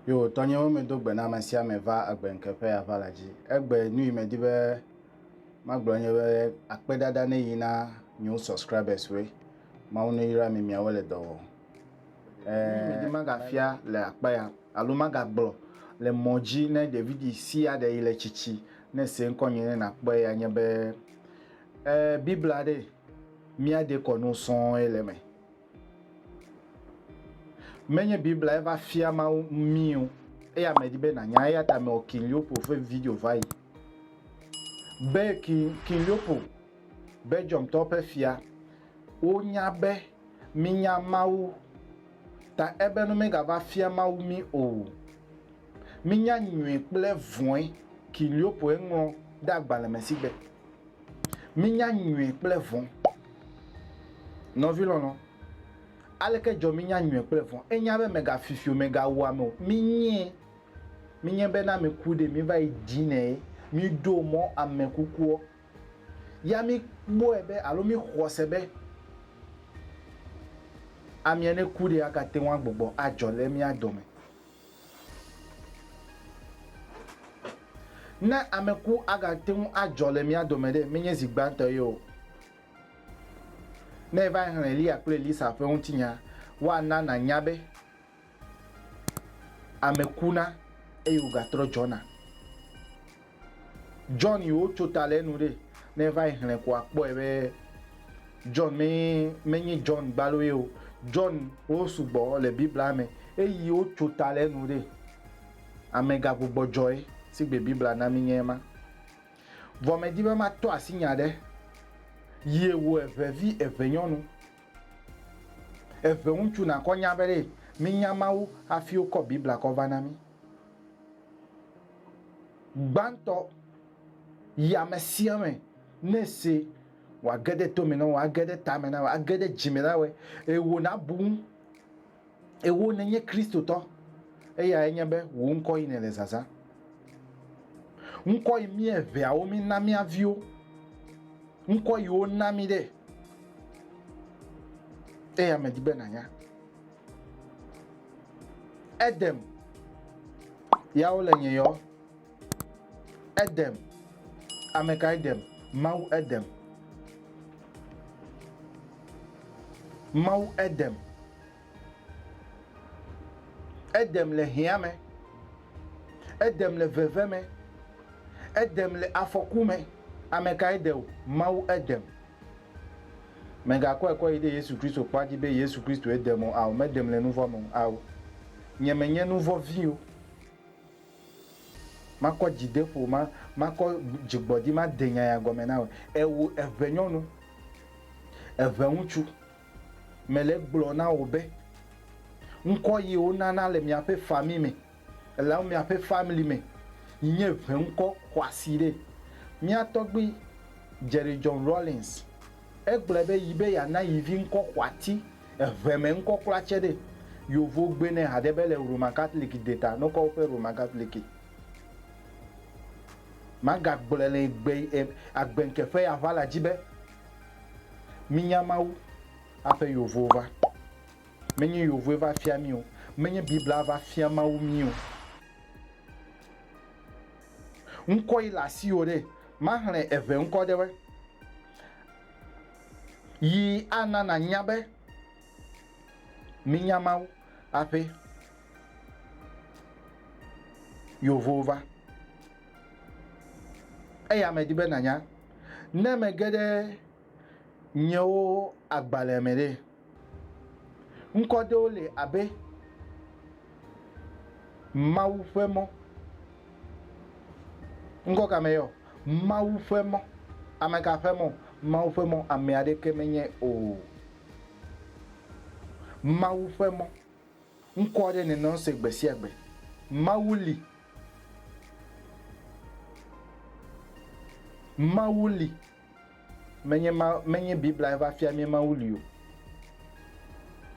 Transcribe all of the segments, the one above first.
Yo, tɔnyewo medo gbe na ame sia ame va agbe ŋkeƒe ava la dzi. Egbe nu yi medi be magblɔ nye be akpedada ne yi na new subscribers woe. Mawu ne yra mi miawo le dɔ wɔm. Ɛ̃, magafia le akpa ya, alo magagblɔ le mɔ dzi ne ɖevidi sia ɖe yi le tsitsi ne se ŋkɔnye ne nàkpɔe ya nye be, ɛ̃, Biblia ɖe mía dekɔ no sɔŋe le eme. Menye Biblia ye va fia Mawu mí o, eya medi be nànya. Eya ta mewɔ King Leopold ƒe video va yi be King, King Leopold. Belgiumtɔwo ƒe fia, wonya be mínya Mawu, ta ebe nu megava fia Mawu mí o. Mínya nyui kple vɔ̃e, Kiliopoe ŋlɔ ɖe agbalẽ me si be, Mínya nyui kple vɔ̃. Nɔvi lɔlɔ̃, aleke dzɔ mínya nyui kple vɔ̃? Ènya be mègafifi o, mègawu ame o. Mínyee. Mínyae be ne ame ku ɖi, míva yi dinɛ ye. Míɖo mɔ ame kukuɔ, ya míkpɔe be alo míxɔ se be amea ne ku ɖe agate ŋu agbugbɔ adzɔ le mía dome. Ne ame ku agate ŋu adzɔ le mía dome ɖe, menye zi gbãtɔ ye o. Ne èva xlẽ Eliya kple Elisa ƒe ŋutinya, woana nànya be Ame kuna eye wògatrɔ dzɔna. John yi wotso ta le enu ɖe, ne eva yi xlẽ ko akpɔe be John me menye John gbalo ye o. John wo sugbɔ le Biblia me eyi wotso ta le enu ɖe. Amega gbugbɔdzɔe si gbe Biblia na mi nye ema. Vɔ medi be matɔ asi nya ɖe yie wu evevi evenyɔnu. Eve ŋutsu nakɔ nya be ɖe mínya Mawu hafi wokɔ Biblia kɔ va na mí. Gbãtɔ, Yi amesiame ne èse wòage ɖe to me na wò, age ɖe tame na wò, age ɖe dzi me na wòe, eye wò nabu ŋu. Ewò nènye Kristotɔ, eyae nye be wò ŋkɔ yi nèle zazã. Ŋkɔ yi mí eveawo mína mía viwo. Ŋkɔ yi wona mí ɖe. Eya medi be nànya. Edem, yawo le nye yɔ. Edem. Ame kae dem? Mawu edem. Mawu edem. Edem le hiã me. Edem le veve me. Edem le afɔku me. Ame kae de o? Mawu edem. Mègakɔe kɔ yi ɖe Yesu Kristo kpa dzi be Yesu Kristo edem o. Ao, medem le nu vɔ̃ me o. Ao, nye menye nu vɔ̃ vi o. Makɔ dzideƒo, ma, makɔ dzigbɔdi, made nyanya gɔme na wò. Ewo, eŋɛnyɔnu, eŋɛŋutsu, mele egblɔ na wò be, ŋkɔ yi wo nana le miaƒe fami me, elawo miaƒe family me, yi nye ŋɛŋkɔ xɔasi ɖe. Mía tɔgbui, Jerry John Rawlings, egblɔe be yi be yeana yi vi ŋkɔ xɔati. Eŋɛ mɛ ŋkɔ kpla tsɛ ɖe. Yovo gbe nɛ haɖe be le Roman Catholic de ta nɔkɔ woƒe Roman Catholic. Maga gblɔɛ le egbe agbe ŋke ƒe ya ʋa la dzi be, mi nya Mawu aƒe yovowo va. Me nyi yovoe va fia mi o. Me nyi Biblia va fia Mawu mi o. Ŋkɔ yi le asiwo ɖe. Ma hlɛ eŋɛ ŋkɔ ɖe woe. Yi ana nànya be mínya Mawu hafi yewo va. Eya medi be nànya ne mege ɖe nyewo agbalẽ me ɖe. Ŋkɔ ɖewo li abe Mawu ƒe mɔ. Ŋkɔ ka mee yɔ? Mawu ƒe mɔ. Ameka ƒe mɔ? Mawu ƒe mɔ ame aɖeke menye o. Mawu ƒe mɔ. Ŋkɔ aɖe nènɔ ese gbe sia gbe. Mawu li. Mawu li. Menye ma, menye Biblae va fia mí Mawu li o.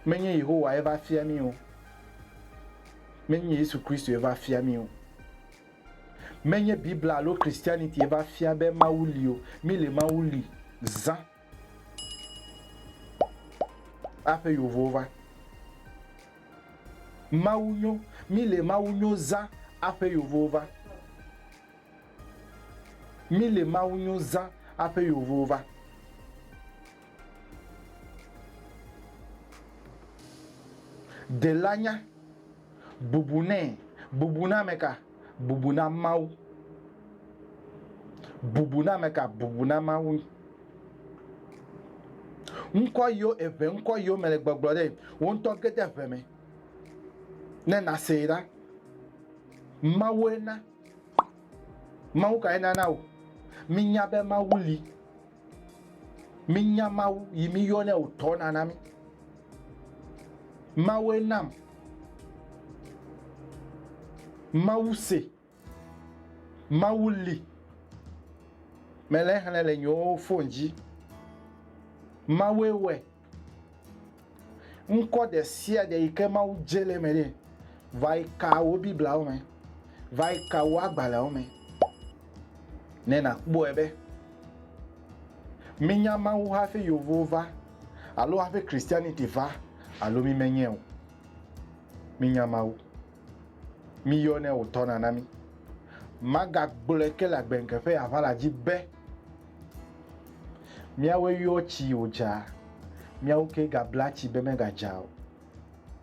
Menye Yehowae va fia mí o. Menye Yesu Kristoe va fia mí o. Menye Bibla alo Christianitie va fia be Mawu li o. Mí le Mawu li zã aƒe yovowo va. Mawu nyo, mí le Mawu nyo zã aƒe yovowo va. Mi le Mawu nyo zã aƒe yovo va. Dela nya, bubu nɛ, bubu na ame ka? Bubu na Mawu. Bubu na ame ka? Bubu na Mawu. Ŋkɔ yiwo eve ŋkɔ yiwo me le gbɔgblɔ ɖe wo ŋutɔ ge de ʋe me ne nasee ɖa. Mawue na. Mawu kae nana wò mínya be Mawu li? Mínya Mawu yi míyɔnɛ wò tɔ nana mí. Mawue nam Mawu se. Mawu li. Mele xlẽ le nyewo fon dzi. Mawue wɛ. Ŋkɔ ɖe sia ɖe yi ke Mawu dze le eme nɛ. Va yi ka wò Biblawo me. Va yi ka wò agbalẽwo me ne nàkpɔe be míenya Mawu hafi yevuwo va alo hafi Christianity va alo mímenyɛ o. Mínya Mawu. Miyɔnɛ wòtɔna na mí. Magagblɔe ke le agbeŋke ƒe aʋala dzi be, Míawoe yɔ tsi wòdza, míawo ke gabla tsi be megadza o.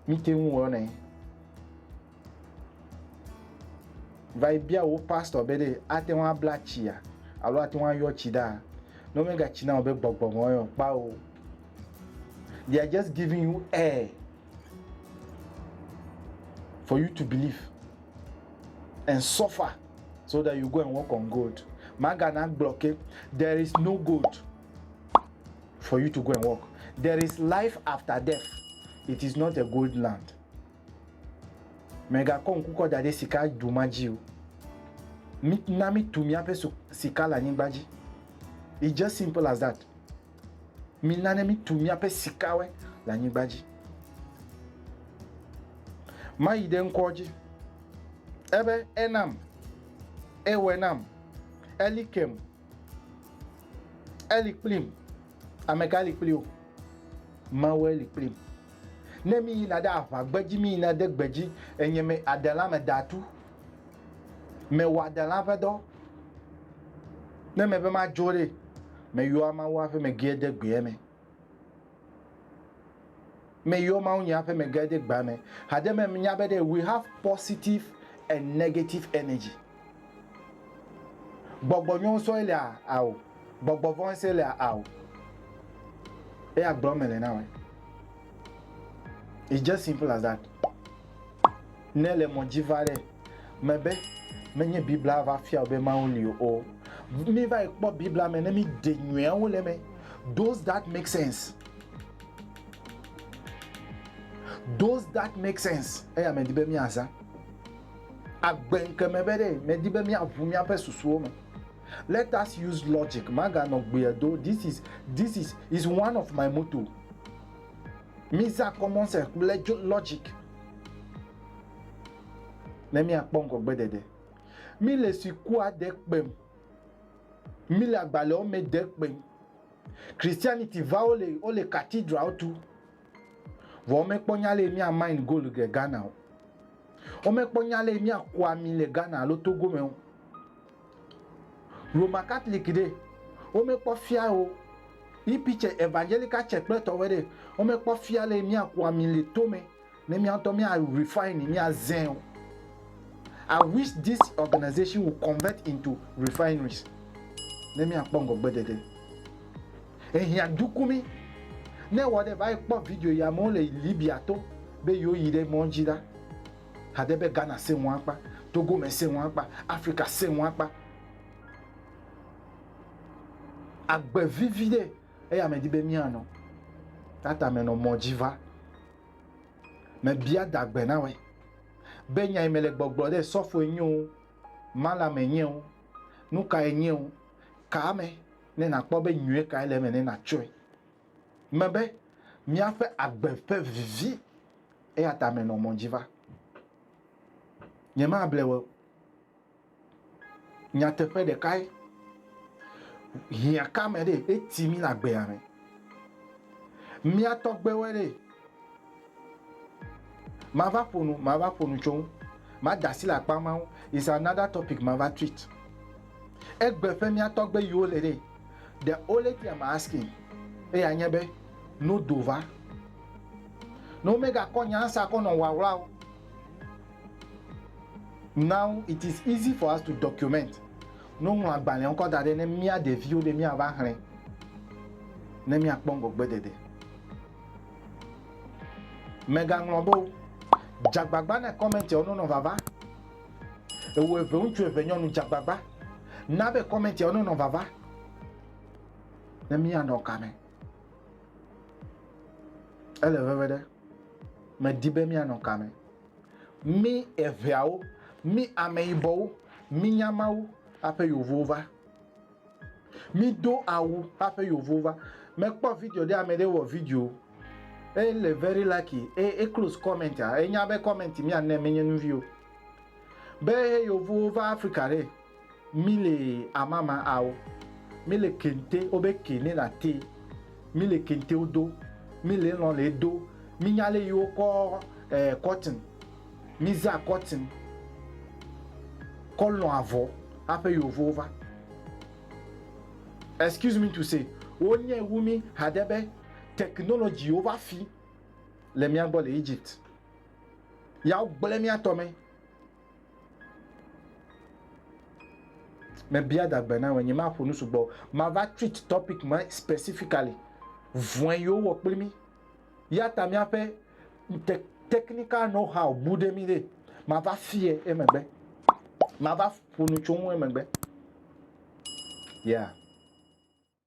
Míte ŋu wɔnɛ. Va yi bia wò pastor be ɖe ate ŋu abla tsia alo ate ŋu ayɔ tsi ɖaa. Ne womegatsi na wò be gbɔgbɔ me woyɔ kpao. They are just giving you air for you to believe and suffer so that you go and work on gold magana gblɔ ke there is no gold for you to go and work there is life after death it is not a gold land mègakɔ ŋku kɔ da ɖe sika du ma dzi o na mítu míaƒe sika le anyigba dzi it's just simple as that Mina ne mítu míaƒe sikawe le anyigba dzi. Mayi ɖe ŋkɔ dzi. Ebe enam, ewɔe nam, eli kem, eli kplim. Ame ka li kpli wo? Mawue li kplim. Ne miyina ɖe aʋagbe dzi, miyina de gbe dzi, enye me adelã me da tu. Mewɔa delã ƒe dɔ. Ne mebe madzo ɖe, meyɔa Mawu aƒe megea de gbea me. Meyɔ Mawu nye aƒe megea de gbea me. Hade me menya be we have positive and negative energy. Gbɔgbɔ nyɔ ŋusɔ ele ao. Gbɔgbɔ vɔn ŋusɔ ele ao. Eya gblɔ me le na we. It's just simple as that. Ne le mɔ dzi va ɖe me be menye Biblia va fia wò be Mawu li o, mi va yi kpɔ Biblia me ne mi de nyuiawo le eme. Does that make sense? Does that make sense? Eya me di be mi aza. Agbe ŋke me be ɖe me di be mi aʋu mi aƒe susuwo me. Let us use logic. Maga nɔ gbeɛ do. This is, this is, is one of my motto. Miza common sense kple logic ne miakpɔ ŋgɔgbedede. Mile sukua de kpem. Mile agbalẽwo me de kpem. Christianity va wole wole cathedralwo tu. Vɔ womekpɔ nya le mia mine gold le Ghana o. Womekpɔ nya le miaku ami le Ghana alo Togo me o. Roma Catholic ɖe, wome kpɔ fia o, yi picture evangelical church kple tɔwɛ ɖe, wome kpɔ fia le mía ku ami le to me ne mía ŋutɔ mía refine mía zẽ o. I wish this organization will convert into refineries ne mía kpɔ ŋgɔgbe dede. Ehiã duku mi ne wɔ ɖe va yi kpɔ video yi amewo le Libya to be yewo yi ɖe mɔ dzi ɖa. Hade be Ghana sẽ ŋu akpa, Togo me sẽ ŋu akpa, Afrika sẽ ŋu akpa. Agbe vivi ɖe eya me di be mianɔ. Tata me nɔ mɔ dzi va. Me bia dagbe na wɛ. Be nya yi me le gbɔgblɔ ɖe sɔfo enye o, mala me enye o, nuka enye o, ka ame ne na kpɔ be nyuie ka ele eme ne na tsɔe. Me be miaƒe agbe ƒe vivi Eya ta menɔ mɔ dzi va. Nyemable wò o. Nyateƒe ɖekae, hiã ka me ɖe eti mí le agbea me. Mía tɔgbewoe ɖe. Mava ƒo nu, mava ƒo nu tso ŋu. Mada asi le akpa ma ŋu. It's another topic mava tweet. Egbe ƒe mía tɔgbe yiwo le ɖe. The only thing I'm asking eya nye be, no do va. Ne womegakɔ nya asa kɔ nɔ ŋwaŋwla o. Now it is easy for us to document. Ne woŋlɔ agbalẽwo kɔ da ɖɛ ne mía ɖeviwo be míava xlẽ ne míakpɔ ŋgɔgbedede. Mègaŋlɔ be o. Dze agbagba ne kɔmɛntiawo nonɔ vava. Ewɔ eve ŋutsu eve nyɔnu dze agbagba na be kɔmɛntiawo nonɔ vava ne míanɔ ka me. Ele veve ɖe, medi be míanɔ ka me. Mí eveawo, mí ameyibɔwo, mí nyamawo haƒe yovowo va. Mí do awu haƒe yovowo va. Mekpɔ video ɖe ame ɖe wɔ video. Ele very lucky. E, e close comment a. Enya be comment mía ne menye nuvio. Be yovowo va Afrika ɖe. Mi le amama ao. Mi le kente o be ke ne na te. Mi le kente o do. Mi le lɔn le do. Mi nya le yi o kɔ eh kɔtin. Mi za kɔtin. Kɔ lɔn avɔ aƒe yovowo va. Excuse me to say wo nye wu mi haɖe be technology wo va fi le mia gbɔ le Egypt. Ya wo gble mia tɔ me. Mebia dagbe na wò, nyemaƒo nu sugbɔ. Mava treat topic ma specifically. Vɔe yewo wɔ kpli mí. Ya ta míaƒe te technical know how bu ɖe mí ɖe. Mava fie emegbe. Mava ƒo nu tso ŋu emegbe. Yeah.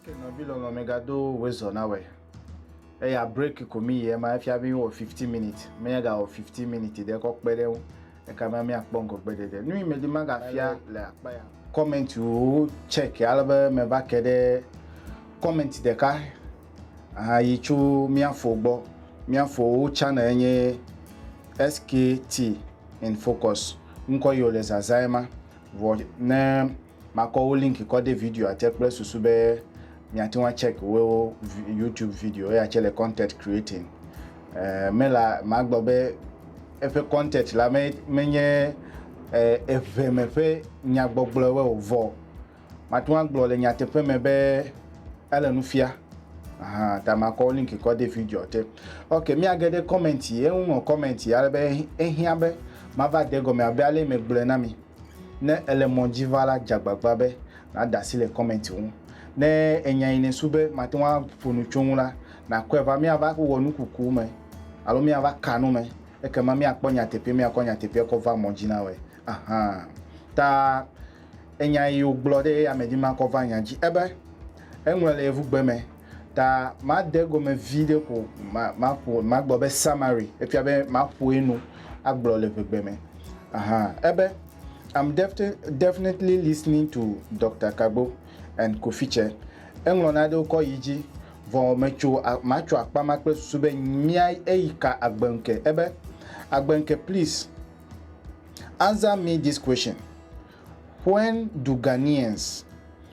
Ok nɔvi lɔlɔ migado wezɔ na wɛ. Eya break ko mi yɛ ma efia mi wɔ 15 minutes. Me ya ga wɔ 15 minutes ɖe kɔ kpe ɖe ŋu. Eka ma mi akpɔ ŋgɔgbe ɖeɖe. Nu yi me di ma ga fia le akpa ya. Comment wo check ale be me va ke ɖe comment ɖeka aha yi tso mia fo gbɔ. Mia fo wo channel nye SKT in focus. Ŋkɔ yi wo le zazã yɛ ma. Vɔ ne Makɔ wo link kɔ de videoa te kple susu be miate ŋu acheck wo YouTube video ya tse le content creating eh, me la magblɔ be eƒe content la me menye eh, eve me ƒe nyagbɔgblɔe o vɔ mate ŋu agblɔ le nyateƒe me be ele nu fia Aha, ta makɔ wo link kɔ de video te. Ok, miage ɖe comment yi, eŋu ŋlɔ comment yi ale be ehiã be mava de gɔme abe ale megblɔe na mi. Ne èle mɔ dzi va la, dze agbagba be nàde asi le kɔmɛnti ŋu. Ne ènya yi nèsu be màte ŋu aƒo nu tso eŋu la, nàkɔe va. Míava wɔ nukuku me alo míava ka nu me, ekema míakpɔ nyateƒee, míakɔ nyateƒea kɔ va mɔ dzi na wòe. Ahan. Ta enya yi wògblɔ ɖe eya me dim akɔ va nya dzi ebe, Eŋlɔe le Yevugbe me. ta made egome vi ɖe ko maƒo magblɔ be summary efia be maƒoe nu agblɔ le ʋegbe me aha ebe i'm definitely listening to dr kagbo and kofiche eŋlɔ naɖewo kɔ yi dzi vɔ metso matso akpa ma kple susu be mia eyi ka agbenke ebe agbenke please answer me this question when do ghanaians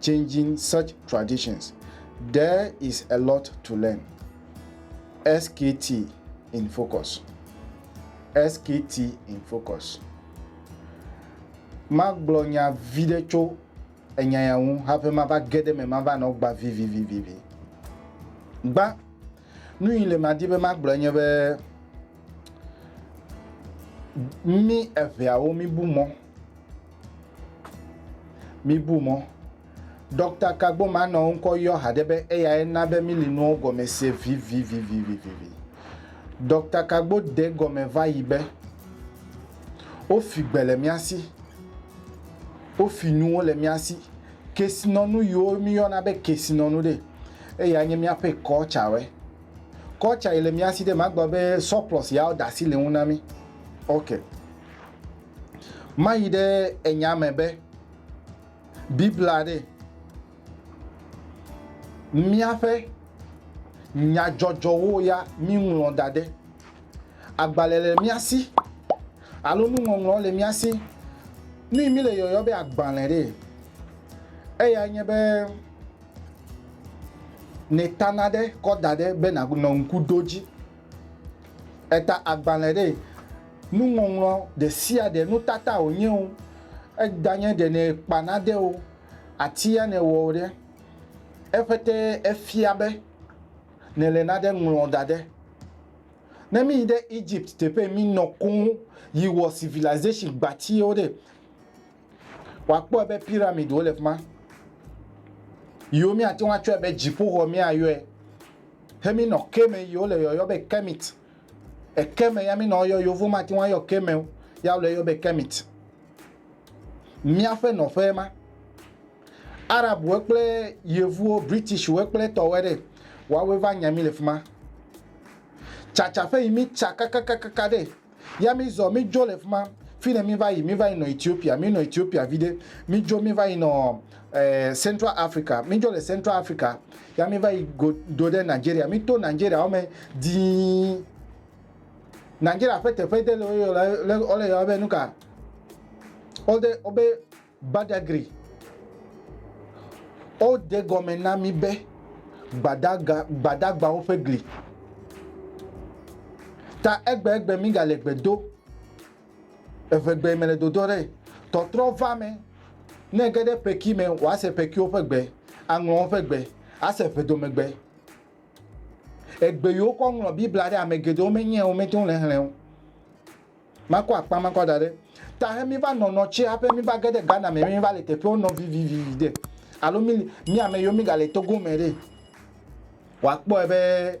changing such traditions, there is a lot to learn. SKT in focus. SKT in focus. Magblɔ nya vi ɖe tso enya ya ŋu hafi mava ge ɖe me mava nɔ gba vivivivivi. Gba nu yi le madi be magblɔ nye be mi eveawo mi bu mɔ Mibu mɔ. Ɖɔkta ka gbɔma nɔ ŋkɔ yɔ haɖe be eyae na be mili nuwo gɔme se vivivivivivi. Ɖɔkta ka gbo de gɔme va yi be wofi gbe le mía si, wofi nuwo le mía si. Kesinɔnu yiwo miyɔna be kesinɔnu ɖe, eyae nye míaƒe kɔltsawɛ. Kɔltsa yi le mía si ɖe, magblɔ be sɔplɔs yawo da asi le ŋu na mí. Ok. Mayi ɖe enya me be Biblia ɖe míaƒe nyadzɔdzɔwo ya míŋlɔ da ɖe. Agbalẽ le mía si alo nuŋɔŋlɔ le mía si. Nu yi míle yɔyɔ be agbalẽ ɖee, eya nye be nèta nane kɔ da ɖe be nànɔ ŋku ɖo edzi. Eda agbalẽ ɖe nuŋɔŋlɔ ɖe sia ɖe nutata wònye o, edanye ɖe nèkpa nane o, atia nèwɔ o ɖe, eƒe te efia be nèle nane ŋlɔm da ɖe. Ne míyi ɖe Egypt teƒe yi minɔ koŋ yi wɔ civilization gbatiwo ɖe, Wòakpɔe be piramidwo le fi ma, yiwo míate ŋu atsɔe be dziƒoxɔ míayɔe. He mí nɔ ke me yiwo le yɔyɔ be Kermit. Eke me ya mí nɔ yɔ yovo mate ŋu ayɔ ke me o, ya wole yɔ be Kermit. Míaƒe nɔƒe ma. Arabwo kple Yevuwo, Britishwo kple tɔwoe ɖe, woawoe va nya mí le fi ma. Tsatsaƒe yi mí tsa kakakakaka ɖe. Ya mizɔ, midzo le fima, fine miva yi, miva yi nɔ Ethiopia, minɔ Ethiopia viɖe, midzo miva yi nɔ eh, Central Africa, midzo le Central Africa, ya miva yi go do ɖe Nigeria, mito Nigeria wome dii. Nigeria ƒe teƒe ɖe le woyɔ le, le, wole yɔ be nuka? Wode, wobe Badagry, Wode gɔme na mí be gbadaga, Gbadagbawo ƒe gli. Ta egbegbe mígale gbe do, evegbee mele dodo ɖe. Tɔtrɔ va me, ne ege ɖe peki me, wòase pekiwo ƒe gbe, aŋlɔ woƒe gbe, ase ʋedomegbe. Egbe yi wokɔ ŋlɔ Biblia ɖe, ame geɖewo menyae o, womete ŋu le exlẽe o. Makɔ akpa ma kɔ da ɖe ta he mi va nɔnɔ tsi haƒe mi va ge ɖe Ghana me mi va le teƒewo nɔ vivivivi ɖe alo mi mi ame yiwo mi ga le Togo me ɖe wa kpɔe be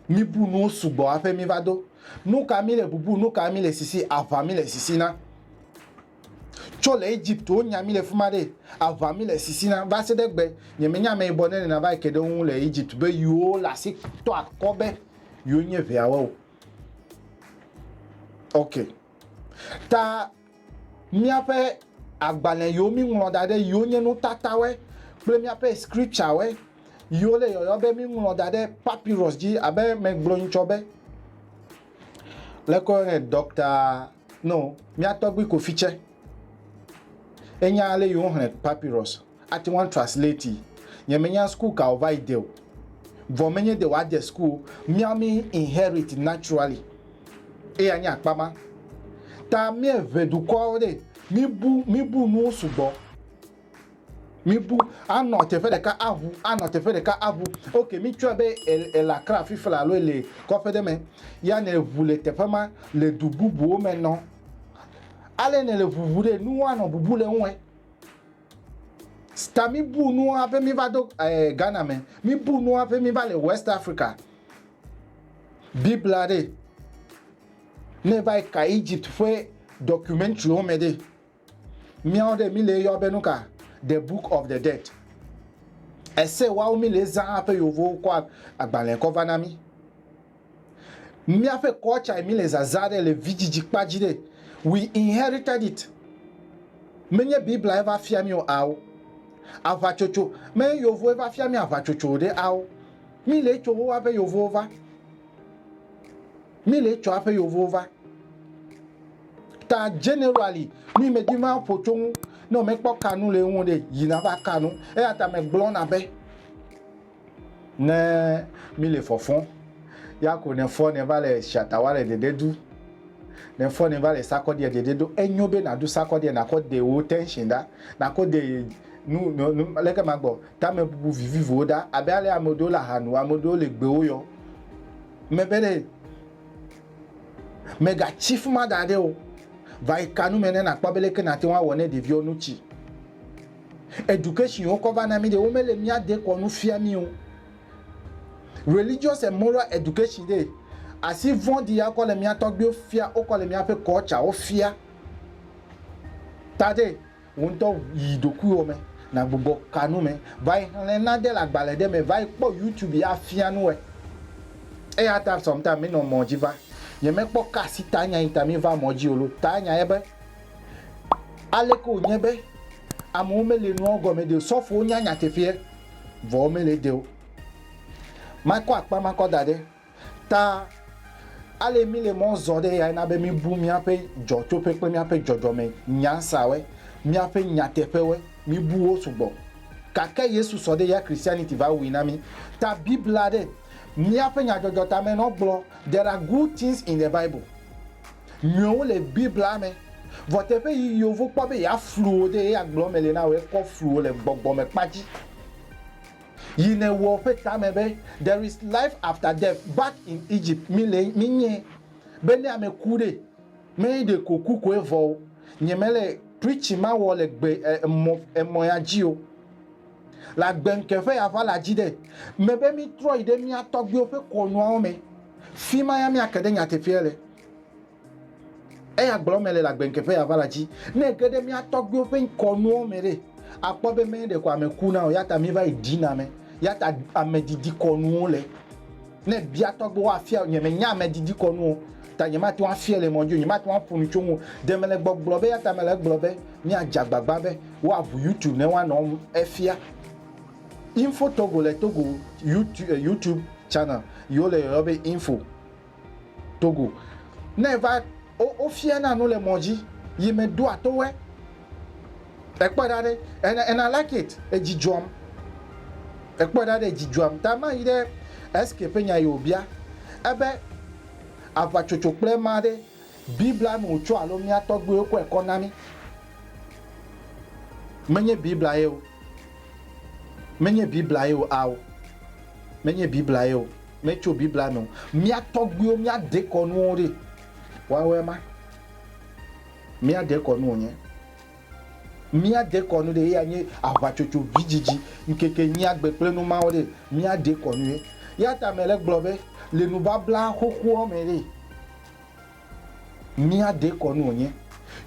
mi bu nuwo sugbɔ haƒe mi va do nu ka mi le bubu nu ka mi le sisi aʋa mi le sisi na tso le Egypt wo nya mi le fuma ɖe aʋa mi le sisi na va se ɖe gbe nye me nya ame yibɔ ne nena va ke ɖe wo ŋu le Egypt be yiwo le asi tɔ akɔ be yiwo nye ʋeawo ok ta míaƒe agbalẽ yiwo míŋlɔ da ɖe yiwo nye nutatawe kple míaƒe scripturewe yiwo le yɔyɔ be míŋlɔ da ɖe papyrus dzi abe megblɔ ŋutsɔ be le kɔ ne dɔkta no míatɔgbi kofi tsɛ enya ale yiwo hlẽ papyrus Ate ŋu atranslate, Nyemenya school ka wòva yi de o, vɔ menye de wòadze school o. Míawo mí inherit naturally. Eya nye akpa ma. Ta míeŋe dukɔwo ɖe, míbu, míbu nuwo sugbɔ. Míbu, anɔ teƒe ɖeka aŋu, anɔ teƒe ɖeka aŋu. Ok, mítsɔe be èle Accra afi fla alo èle kɔƒe ɖe me. Ya nèŋu le teƒe ma, le du bubuwo me nɔ. Ale nèle ŋuŋu ɖe, nuwo anɔ bubu le eŋue. Sta mibu nu hafi miva do eh, Ghana me. Mibu nu hafi miva le West Africa. Biblia ɖe. Ne va yi ka Egypt ƒe documentary wo me ɖe. Míawo ɖe mi le eyɔ be nu ka? The Book of the Dead. Ese woawo mi le zã hafi yewo kɔ agbalẽ kɔ va na mi. Míaƒe culture mi le zazã ɖe le vidzidzi kpa dzi ɖe, we inherited it, menye Biblia va fia mi o ao, aʋatsotso, menye Yovoe va fia mi aʋatsotso o ɖe ao, mi le etso woa ƒe Yovowo va, mi le etso aƒe Yovowo va. Ta generally mi me di ma ƒo tso ŋu, ne me kpɔ kanu le ŋu ɖe, yi na va kanu, eya ta me gblɔ na be. Ne mi le fɔfɔ, ya ko ne fɔ ne va le shata wa le dede du, ne fɔ ne va le sakɔ dia dede do, enyo be na du sakɔ dia na kɔ de wo tension da, na kɔ de nu nu leke ma gbɔ tame bubu vivivo wo da abe ale ame ɖewo le aha nu, ame ɖewo le gbe wo yɔ me be ɖe me ga tsi fuma da ɖe o, va yi ka nu me ne na kpɔ be leke na te wa wɔ ne ɖeviwo nu tsi. Education wokɔ va na mí ɖe, womele mía dekɔ nu fia mí o. Religious and moral education ɖe, asi vɔ̃ɖi ya wokɔ le mía tɔgbuiwo fia, wokɔ le míaƒe culture wo fia. Ta ɖe, wò ŋutɔ yi ɖokuiwò me, nàgbugbɔ kanu me, va yi xlẽ nane le agbalẽ ɖe me, va yi kpɔ YouTube ya afia nu wòe. Eya ta sometimes mí nɔ mɔ dzi va. Nye me kpɔ ka asi ta nya yi ta mí va mɔ dzi o lo. Ta nya ye be. Aleke wònye be amewo mele nuawo gɔme ɖi o? Sɔfowo nya nyateƒeɛ, vɔ womele ede o. Makɔ akpa makɔ da ɖe ta ale míle mɔ zɔ ɖe eyae na be míbu míaƒe dzɔtsoƒe kple míaƒe dzɔdzɔme nyasawe, míaƒe nyateƒewe, míbu wo sugbɔ. Gake Yesu sɔ ɖe eya Christianity va wui na mí. Ta Biblia ɖe míaƒe nyadzɔdzɔtamɛnɔ gblɔ, There are good things in the Bible. Nyɔwo le Biblia me. Vɔ teƒe yi yovo kpɔ be yeaflu wò ɖe eya gblɔ me le na wò ekɔ flu wò le gbɔgbɔme kpa dzi. Yi nèwɔ ƒe tame be there is life after death back in Egypt mi le mi nye be ne ame ku ɖe me ɖe ko ku koe vɔ o nye me le preaching ma wɔ le gbe emɔ emɔ ya dzi o le agbe ŋkeƒe ya ʋala dzi ɖe me be mi trɔ yi ɖe mia tɔgbiwo ƒe kɔnuawo me. Fi ma ya míake ɖe nyateƒea le. Eya gblɔ mele le agbeŋkeƒe ya va la dzi. Ne ege ɖe mía tɔgbuiwo ƒe ŋkɔnuwo me ɖe, àkpɔ be mɛ ɖeko ame kuna o. Eya ta míva yi ɖina ame. Eya ta amedidikɔnuwo le. Ne èbia tɔgbuiwo woafia wò. Nyemenya amedidikɔnu o, ta nyemate ŋu afiae le mɔ dzi o. Nyemate ŋu aƒo nu tso eŋu o. Ɖe mele gbɔgblɔ be eya ta mele egblɔ be míadze agbagba be woaʋu YouTube ne woanɔ efia. Info Togo le Togo YouTube channel yi wo le yɔyɔ be Info Togo. Ne eva wo fia na nu le mɔ dzi yi me ɖoa to wɛ. E kpɔe ɖa ɖe and I like it edzi dzɔm. E kpɔe ɖa ɖe edzi dzɔm ta ma yi ɖe SK ƒe nya yi wo bia ebe aʋa tsotso kple ma ɖe Biblia me wòtso alo mía tɔgbuiwo kɔe kɔ na mí? Menye Biblia ye o. Menye Biblia ye o. Ao, menye Biblia ye o. Metso Biblia me o. Mía tɔgbuiwo, mía dekɔnuwo ɖe? Woawoe ma. Mía dekɔnu wònye. Mía dekɔnu ɖe ye anye aʋatsotso, vidzidzi, ŋkekenyui, agbe kple nu mawo ɖe? Mía dekɔnu ye. Eya ta mele gblɔ be, le nubabla xoxoa me ɖe, Mía dekɔnu wònye.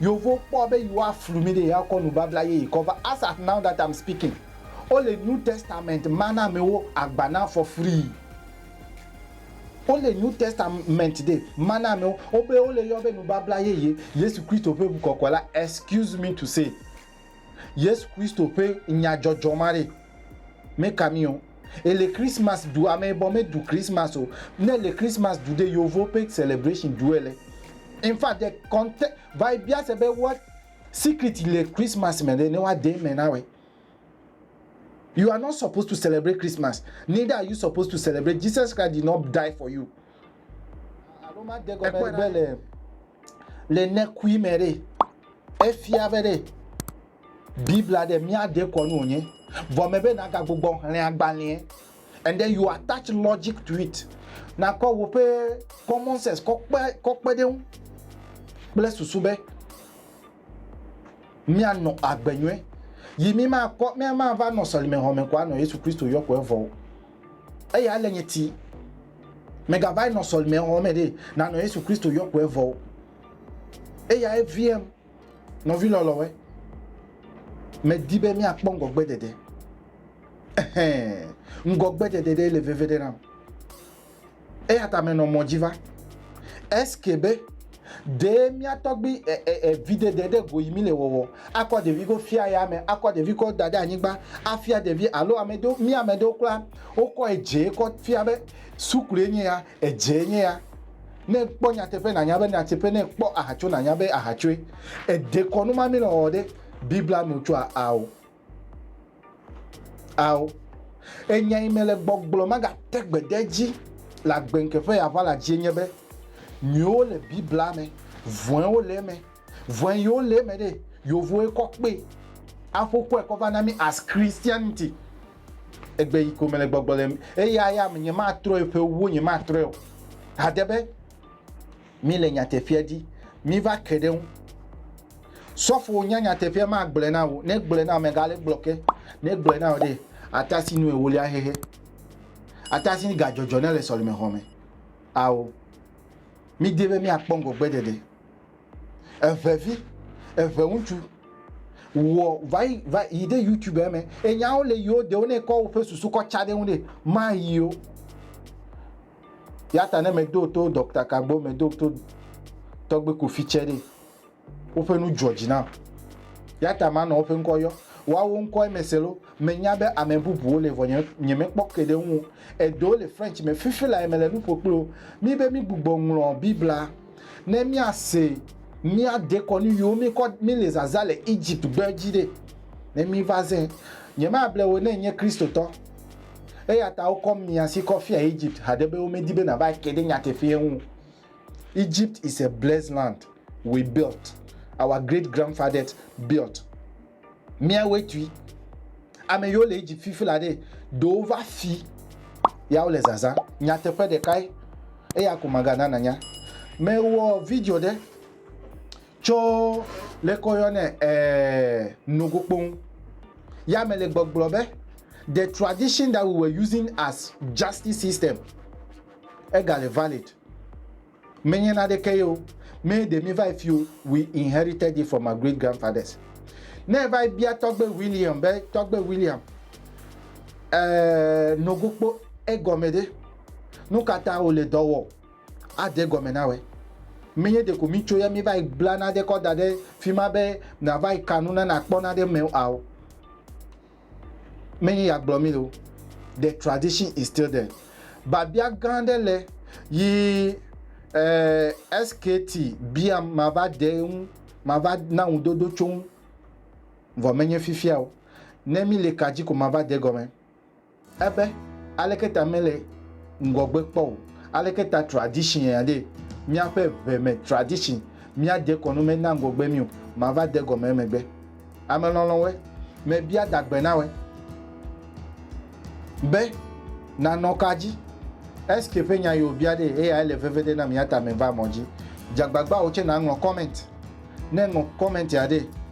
Yeovowo kpɔa be yewoaflu mí ɖe yewoakɔ nubabla yeye kɔ va. As at now that I'm speaking, wole New Testament ma na amewo agba na afɔ frii. Wole New Testament de ma na amewo, wobe wole yɔ be nubabla yeye, Yesu Kristo ƒe ŋu kɔkɔe la, excuse me to say. Yesu Kristo ƒe nyadzɔdzɔ ma ɖe, meka mi o. Ele Christmas ɖu, ame bɔ me ɖu Christmas o. Ne ele Christmas ɖu ɖe, yovo ƒe celebration ɖu ele. In fact the conte, va yi bia se be what secret le Christmas me ɖe ne wa de eme na wɛ. You are not supposed to celebrate Christmas, neither are you supposed to celebrate Jesus Christ did not die for you. Alo ma de gɔme be le le nekui me ɖe efia be ɖe Biblia ɖe míade kɔ nu wònye. Vɔ me be nagagbugbɔ hlẽ agbalẽe and then you attach logic to it. Nakɔ woƒe common sense kɔ kpe kɔ kpe ɖe ŋu kple susu be míanɔ agbe nyuie, yi mímakpɔ, míamava nɔ sɔlime hɔme ko anɔ Yesu Kristo yɔ ko evɔ o. Eya le nye ti. Megavai nɔ sɔlime hɔme ɖe, nanɔ Yesu Kristo yɔ ko evɔ o. Eya eviem, nɔvi lɔlɔwe. Medi be míakpɔ ŋgɔgbeɖeɖe. Ehɛn, ŋgɔgbeɖeɖe ɖe le veviɖe nam. Eya ta menɔ mɔ dzi va. Ske be, Ɖe mía tɔgbi evidede ɖe go yi mile wɔwɔ akɔ ɖevi go fia ya me akɔ ɖevi kɔ da ɖe anyigba afia ɖevi alo ame ɖewo mía ame ɖewo kura wokɔ edze kɔ fia be suklu enye ya edze enye ya ne kpɔ nyateƒe nanya be nyateƒe ne kpɔ ahatso nanya be ahatsoe edekɔnu ma mile wɔwɔ ɖe biblia nu tsua ao. Ao, enya yi mele gbɔgblɔ magate gbe ɖe edzi le agbenke ƒe aʋala dzie nye be, nyuiwo le Biblia me, vɔ̃ewo le eme. Vɔ̃e yiwo le eme ɖe, Yevowoe kɔ kpee aƒo kɔe kɔ va na mí as Christianity. Egbe yi ko mele gbɔgblɔ le eya ya me, nyematrɔe ƒe ewo nyematrɔe o. Hade be. Míle nyateƒea di. Míva ke ɖe eŋu. Sɔfo wò nya nyateƒea ma gblɔe na wò. Ne gblɔe na wò mèga le gblɔ ke. Ne gblɔe na wò ɖe ata si nu ewolia xexe. Ata si ga dzɔdzɔ ne le sɔleme xɔ me. Ao. Mi de be mia kpɔ ŋgɔgbe ɖeɖe. Eve vi, eve ŋutsu. Wɔ va yi va yi de YouTube eme. Enyawo le yiwo de wo ne kɔ woƒe susu kɔ tsa ɖe ŋu ɖe ma yi o. Ya ta ne medo to Dɔkta Kagbo, medo to Tɔgbe Kofi tsɛ ɖe, woƒe nu dzɔ dzi nam. Ya ta manɔ woƒe ŋkɔ yɔ. Woawo ŋkɔe mese lo. Menya be ame bubuwo li vɔ nye, nyemekpɔ ke ɖe eŋu o. Eɖewo le French me. Fifi lae mele nu ƒo kpli wo. Míbe mígbugbɔ ŋlɔ Biblia ne míase mía dekɔnu yiwo míkɔ, míle zazã le Egypt-gbe dzi ɖe, ne míva zẽ. Nyemable wò ne ènye Kristotɔ. Eya ta wokɔ mia si kɔ fia Egypt haɖe be womedi be nàva ke ɖe nyateƒea ŋu. Egypt is a blessed land we built, our great grandfathers built. Míawoe tui. Ame yiwo le Egypt fifi la ɖe, ɖe wova fi ya wole zazã. Nyateƒe ɖekae, eya ko magana nànya. Mewɔ video ɖe Tso leke woyɔnɛ ɛɛ nogo kpoŋ ya me le gbɔgblɔ be the tradition that we were using as justice system ega le valid. Menye naɖeke ye o, mee ɖe mi va yi fi o, we inherited it from our great grandfathers. Ne eva yi bia tɔgbe William be tɔgbe William ɛɛ nogo kpo egɔme ɖe, nukata wòle dɔ wɔ? Ade egɔme na wòe. Menye ɖeko mítso ya míeva yi bla nane kɔ da ɖe fi ma be nàva yi ka nu na nàkpɔ nane eme o ao. Menye ya gblɔ mí le o. The tradition is still there. Biabia gã aɖe le yi eh, SKT biam mava de ŋu, mava na ŋudodo tso ŋu. Vɔ menye fifia o. Ne míle ka dzi ko mava de gɔme. Ebe, Aleke ta mele ŋgɔgbe kpɔ o? Aleke ta tradition aɖee? Míaƒe ŋe me tradition, míade kɔnu mena ŋgɔgbe mí o. Mava de gɔme emegbe. Ame lɔlɔ̃woe, mebia da gbe na wòe be, Nànɔ ka dzi? Eske ƒe nya yi wòbia ɖee? Eyae le veve ɖe nam, eya ta meva mɔ dzi. Dze agbagba wò tsɛ nàŋlɔ comment. Ne èŋlɔ comment aɖee,